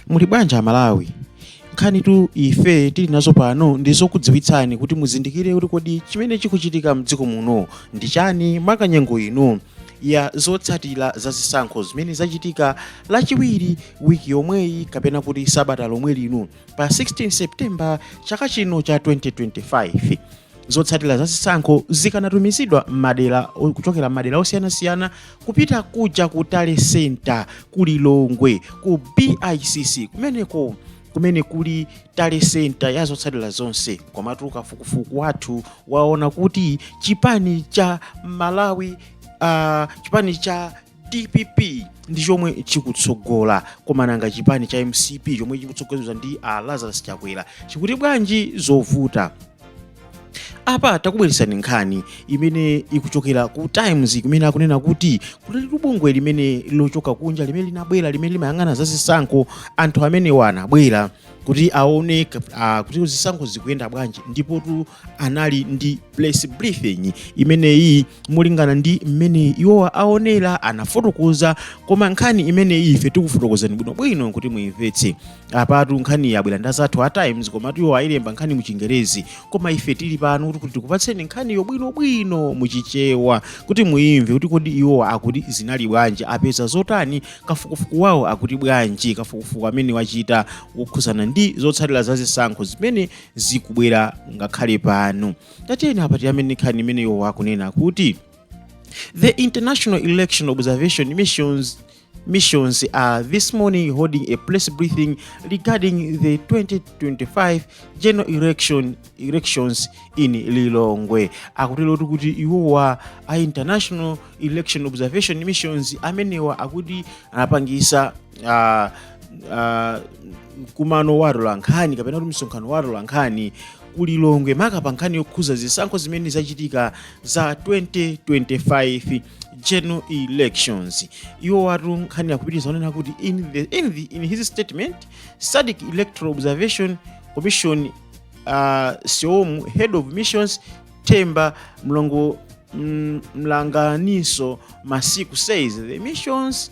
muli bwanji amalawi nkhani tu ife tili nazo pano ndi zokudziwitsani kuti muzindikire kuti kodi chimene chikuchitika mdziko muno ndi chani maka nyengo ino ya zotsatira za zisankho zimene zachitika lachiwiri wiki yomweyi kapena kuti sabata lomwe lino pa 16 septemba chaka chino cha 2025 zotsatira za zisankho zikanatumizidwa m'madera kuchokera m'madera osiyanasiyana kupita kuja ku tally center ku lilongwe ku bicc kumene kuli tally center ya zotsatira zonse komatu kafukufuku wathu waona kuti chipani cha malawi uh, chipani cha dpp ndi chomwe chikutsogola koma nanga chipani cha mcp chomwe chikutsogozedwa ndi a lazarus chakwera chikuti bwanji za vuta apa takubweretsani nkhani imene ikuchokera ku times kumene akunena kuti kunali bungwe limene lochoka kunja limene linabwera limene limayang'ana za zisankho anthu amenewa anabwera kuti aone uh, kuti zisankho zikuyenda bwanji ndipotu anali ndi press briefing imeneyi molingana ndi mmene iwowa aonera anafotokoza koma nkhani imeneyi ife tikufotokozani bwinobwino kuti muimvetse apatu nkhani yabwera ndi azathu a times komatu iwowa ayilemba nkhani muchingerezi koma ife tili pano kuti tikupatseni nkhaniyo bwinobwino muchichewa kuti muimve kuti kodi iwowa akuti zinali bwanji apeza zotani kafukufuku wawo akuti bwanji kafukufuku amene wachita wokhuzana ndi zotsatira za zisankho zimene zikubwera ngakhale pano tatiyeni apa tiyambe nkhani imene iwowa akunena kuti the international election observation missions are this morning holding a press briefing regarding the 2025 general elections in lilongwe akutero kuti iwowa a international election observation missions amenewa akuti anapangisa uh, uh, mkumano wa atolankhani kapena kuti msonkhano wa atolankhani ku lilongwe maka pa nkhani yokhuza zisankho zimene zachitika za 2025 general elections iwowatu nkhani akupitiriza kunena kuti in, the, in, the, in his statement sadc electoral observation commission uh, seom head of missions themba mlongo mm, mlanganiso masiku says the missions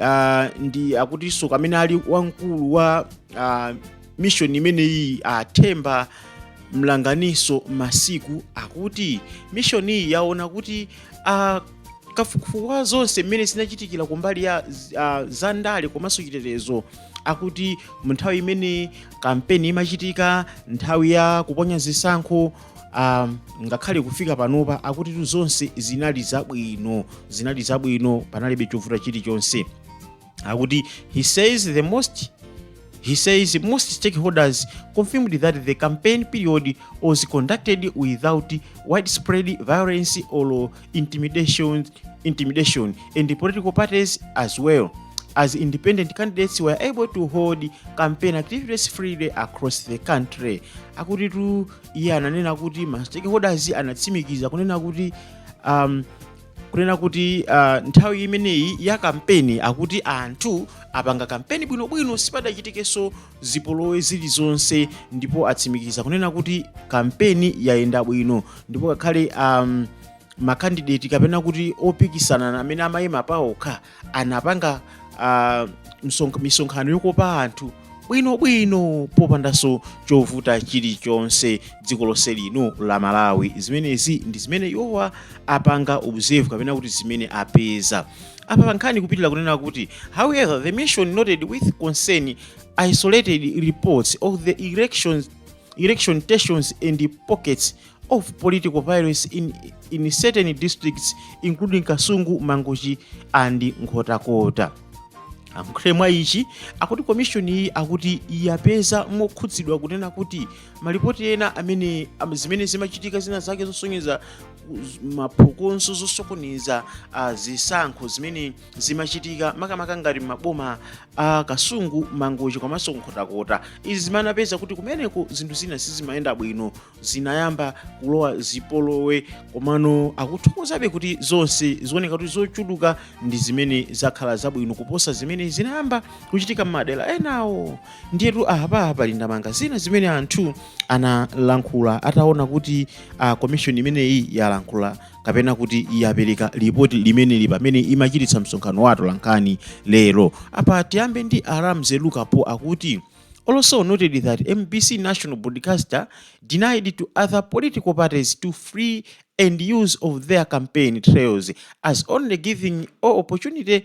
uh, ndi akutinso amene ali wamkulu wa uh, mishoni imeneyi a themba mlanganiso masiku akuti mishoniyi yaona kuti uh, kafukufuku wa zonse mmene zinachitikira kumbali ya uh, za ndale komanso chitetezo akuti mu nthawi imene kampeni imachitika nthawi ya kuponya zisankho um, ngakhale kufika panopa akutitu zonse zinali zabwino zinali zabwino panalibe chovuta chilichonse akuti he says most stakeholders confirmed that the campaign period was conducted without widespread violence or intimidation, and the political parties as well as independent candidates were able to hold campaign activities freely across the country akutitu iye ananena kuti ma stakeholders anatsimikiza kunena kuti um, nthawi imeneyi ya kampeni akuti anthu apanga kampeni bwinobwino sipadachitikenso zipolowe zilizonse ndipo atsimikiza kunena kuti kampeni yayenda bwino ndipo ngakhale um, makandideti kapena kuti opikisana amene amayima paokha anapanga uh, msonk- misonkhano yokopa anthu bwinobwino popandanso chovuta chilichonse dziko lonse lino la malawi zimenezi ndi zimene iwowa apanga observe kapena kuti zimene apeza apa pankhani kupitira kunena kuti however the mission noted with concern isolated reports of the election tensions and pockets of political violence in, in certain districts including kasungu mangochi and nkhotakota ankhule mwa ichi akuti mishoni iyi akuti yapeza mokhudzidwa kunena kuti malipoti ena amene am- zimene zimachitika zina zake zosonyeza maphokoso zosokoneza zisankho zimene zimachitika makamaka ngati maboma a kasungu mangochi komanso nkhotakota izi zimanapeza kuti kumeneko zinthu zina sizimayenda bwino zinayamba kulowa zipolowe komano akuthokozabe kuti zonse zioneka kuti zochuluka ndi zimene zakhala zabwino kuposa zimene zinayamba kuchitika m'madera enawo Ndiyetu apa pali ndemanga zina zimene anthu analankhula ataona kuti a komishoni imeneyi yalankhula kapena kuti yapereka lipoti limeneli pamene imachititsa msonkhano wa atolankhani lero. Apa tiyambe ndi a Ramsey Lukapo akuti also noted that MBC National Broadcaster denied to other political parties to free and use of their campaign trails as only giving all opportunity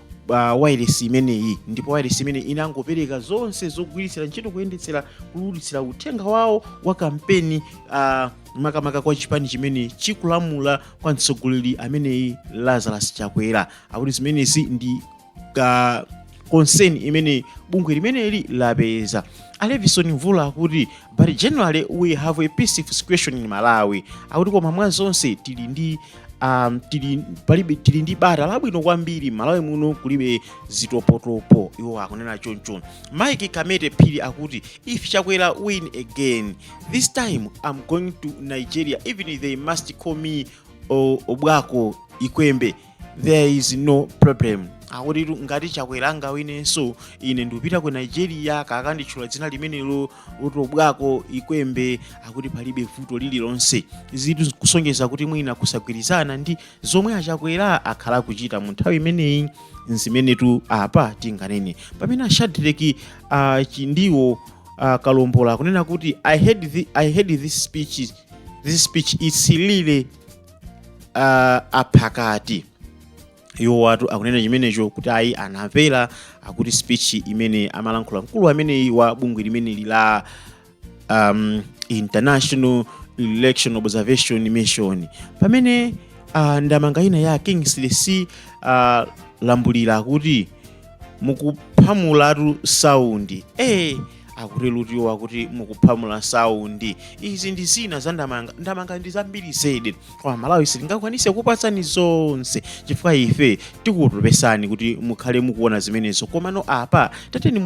uh, wailesi imeneyi ndipo wailesi imeneyi inangopereka zonse zogwiritsira ntchito kuyendetsera kuulutsira uthenga wawo wa kampeni uh, makamaka kwa chipani chimene chikulamula kwa mtsogoleri ameneyi lazarus chakwera akuti zimenezi ndi uh, concern imene bungwe limeneli lapeza a levison mvula akuti but generally we have a peaceful situation in malawi akuti koma mwa zonse tili ndi um, palibe, tili ndi bata labwino kwambiri malawi muno kulibe zitopotopo iwo akunena choncho mike kamete phiri akuti if chakwera win again this time i'm going to nigeria even if they must call me o- obwako ikwembe there is no problem akuti ngati chakwera angawinenso ine ndikupita ku nigeria kakanditchula dzina limenelo loti obwako ikwembe akuti palibe vuto lililonse zinthu zikusonyeza kuti mwina kusagwirizana ndi zomwe achakwera akhala akuchita mu nthawi imeneyi nzimenetu apa tinganene pamene ashadreki uh, chindiwo uh, kalombola akunena kuti i heard this speech is really uh, apakati iwowatu akunena chimenecho kuti ayi anamvera akuti speech imene amalankhula mkulu ameneyi wa bungwe limeneli la um, international election observation mission pamene uh, ndamanga ina ya kingsley c uh, lambulira kuti mukuphamulatu saundi eh akuluti iwo akuti mukuphamula saundi izi ndi zina za ndamanga ndamanga ndi zambiri zedi amalawi sitingakwanise kupatsani zonse chifukwa ife tikutopesani kuti mukhale mukuona zimenezo komano apa tateni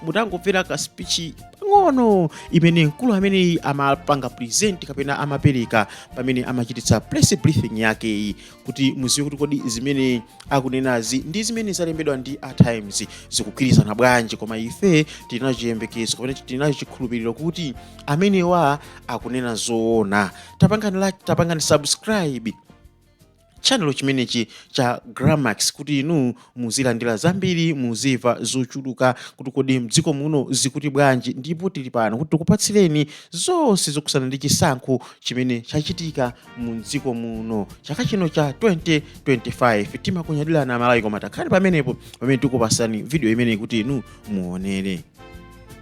mutangomvera ka spichi pang'ono imene mkulu ameneyi amapanga present kapena amapereka pamene amachititsa press briefing yakeyi kuti muziwe kuti kodi zimene akunenazi ndi zimene zalembedwa ndi a times zikugwirizana bwanji koma ife tili nacho chiyembekezo kapena tili nacho chikhulupiriro kuti amenewa akunena zoona tapangani tapangani subscribe channel chimenechi cha gramax kuti inu muzilandira zambiri muziva zochuluka kuti kodi mdziko muno zikuti bwanji ndipo tili pano kuti tikupatsireni zonse zokhudzana ndi chisankho chimene chachitika mu mdziko muno chaka chino cha 2025 timakunyadirani amalawi koma takhani pamenepo pamene tikupasani video imeneyi kuti inu muonere